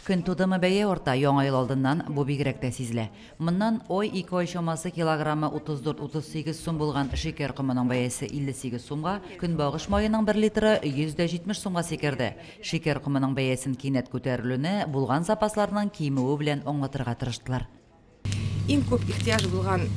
Көн тудымы бәя арта, Яңа ел алдыннан бу бигрәк тә сизелә. Моннан ой, ике ай чамасы килограммы 34-38 сум булган шикәр комының бәясе 58 сумга, көнбагыш маеның бер литры 170 сумга сикерде. Шикәр комының бәясен кинәт күтәрелүне булган запасларның кимүе белән аңлатырга тырыштылар. Иң күп ихтыяҗ булган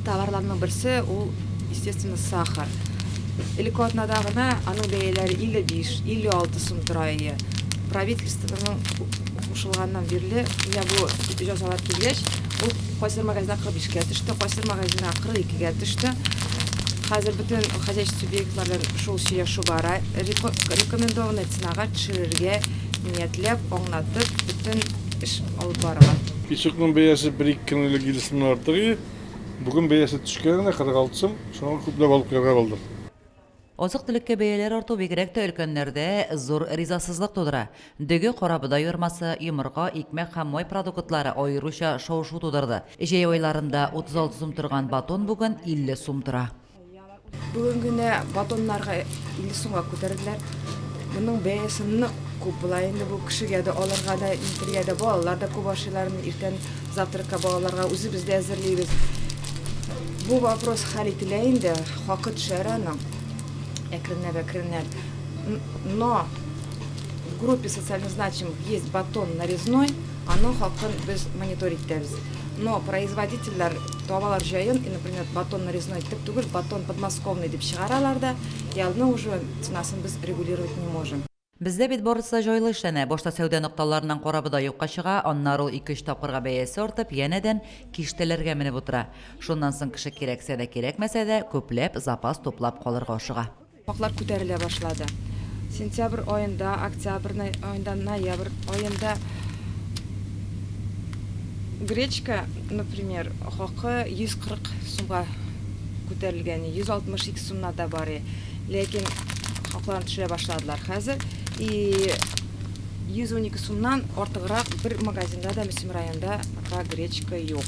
товарларның берсе ул, естественно, сахар. Элекке атнада гына аның бәяләре 55-56 сум тора иде. Правительствоның кушылганнан бирле, менә бу җәзалар килгәч, ул кайсыдыр магазинда 45-кә төште, кайсыдыр магазинда 42-гә төште. Хәзер бөтен хозяйство субъектлары белән шул сөйләшү бара. Рекомендованный ценага төшерергә ниятләп, аңлатып, бөтен эш алып барыла. Песокның бәясе бер-ике көн элек илле сумнан артык иде. Бүген бәясе төшкән генә, 46 сум. Шуңа күпләп алып керергә булдык. Азык-төлеккә бәяләр арту бигрәк тә өлкәннәрдә зур ризасызлык тудыра. Дөге, карабодай ярмасы, йомырка, икмәк һәм май продуктлары аеруча шау-шу тудырды. Җәй айларында 36 сум торган батон бүген 50 сум тора. Бүген генә батоннарга 50 сумга күтәрделәр. Моның бәясе нык күп була инде. Бу кешегә дә алырга да, илтергә дә, балалар да күп ашыйлар. Иртән завтракка балаларга үзебез дә әзерлибез. Бу вопрос хәл ителә инде, хакы төшәр аның әкренләп-әкренләп. Но в группе социально значимых есть батон нарезной. Аның хакын без мониторить итәбез. Но производительләр табалар җаен, и, например, батон нарезной итеп түгел, батон подмосковный дип чыгаралар да, и алны уже ценасын без регулировать не можем. Бездә бит барысы да җайлы эшләнә, башта сәүдә нокталарыннан корабы да юкка чыга, аннары ул ике-өч тапкырга бәясе артып, янәдән киштәләргә менеп утыра. Шуннан соң кеше кирәксә дә, кирәкмәсә дә, күпләп запас туплап калырга ашыга. Фактлар күтәрелә башлады. Сентябрь аенда, октябрь аенда, ноябрь аенда гречка, например, хакы 140 сумга күтәрелгәни, 162 сумнар да бар и, ләкин хакларын төшерә башладылар хәзер. И 112 сумнан артыграк бер магазинда да Мөслим районында пока гречка юк.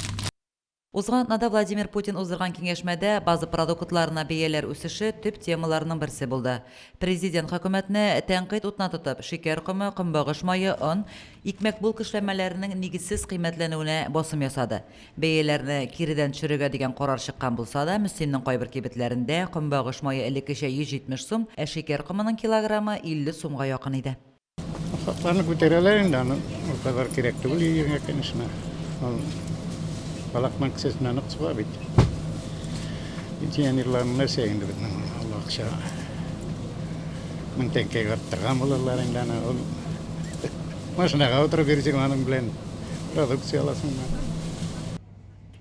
Узган атнада Владимир Путин уздырган киңәшмәдә база продуктларына бәяләр үсеше төп темаларның берсе булды. Президент хөкүмәтне тәнкыйть утына тотып, шикәр комы, көнбагыш мае, он, икмәк булка эшләнмәләренең нигезсез кыйммәтләнүенә басым ясады. Бәяләрне киредән төшерергә дигән карар чыккан булса да, Мөслимнең кайбер кибетләрендә көнбагыш мае элеккечә 170 сум, ә шикәр комының килограммы 50 сумга якын иде. Фактларны күтәрәләр инде, аны ул кадәр кирәк түгел июньгә, конечно. Ул балакның кесәсенә нык суга бит. Пенсионерларның нәрсә инде безнең ул акча. Мең тәңкәгә арттырган булалар инде аны. Ул машинага утырып йөрсең аның белән продукция аласың.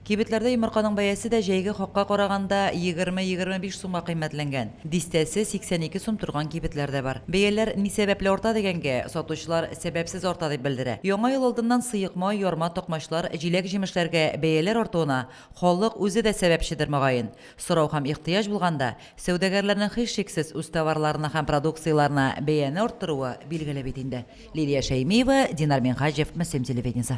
Кибетләрдә йомырканың бәясе дә җәйге хакка караганда егерме-егерме биш сумга кыйммәтләнгән. Дистәсе 82 сум торган кибетләр дә бар. Бәяләр ни сәбәпле арта дигәнгә, сатучылар сәбәпсез арта дип белдерә. Яңа ел алдыннан сыек май, ярма, токмачлар, җиләк-җимешләргә бәяләр артуына халык үзе дә сәбәпчедер, мөгаен. Сорау һәм ихтыяҗ булганда, сәүдәгәрләрнең һичшиксез үз товарларына һәм продукцияләренә бәяне арттыруы билгеле бит инде. Лилия Шәймиева, Динар Минһаҗев, Мөслим телевидениесе.